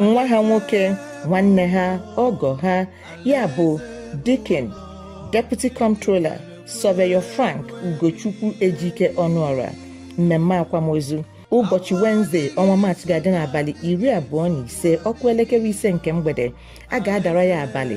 nwa ha nwoke nwanne ha ọgọ ha ya bụ Deacon Deputy Comptroller Surveyor Frank Ugochukwu Ejike Ọnụọra mmemme akwamozu ụbọchị Wednesday ọnwa maachị ga-adị n'abalị iri abụọ na ise ọ kụọ elekere ise nke mgbede a ga-adara ya abalị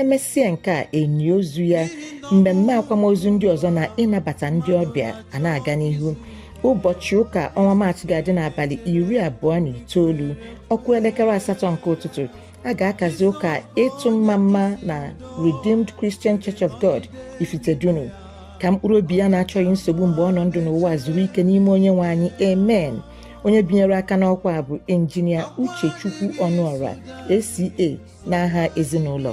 emesịa nke a e nie ozu ya mmemme akwamozu ndị ọzọ na ịnabata ndị ọbịa ana-aga n'ihu ụbọchị ụka ọnwa maachị ga-adị n'abalị iri abụọ na itoolu ọ kụọ elekere asatọ nke ụtụtụ a ga-akazi ụka ịtụ mmamma na Redeemed Christian Church of God Ifitedunu ka mkpụrụ obi ya na-achọghị nsogbu mgbe ọ nọ ndụ n'ụwa zuru ike n'ime onye nwe anyị amen onye binyere aka n'ọkwa bụ injinia Uchechukwu Ọnụọra ACA n'aha ezinụlọ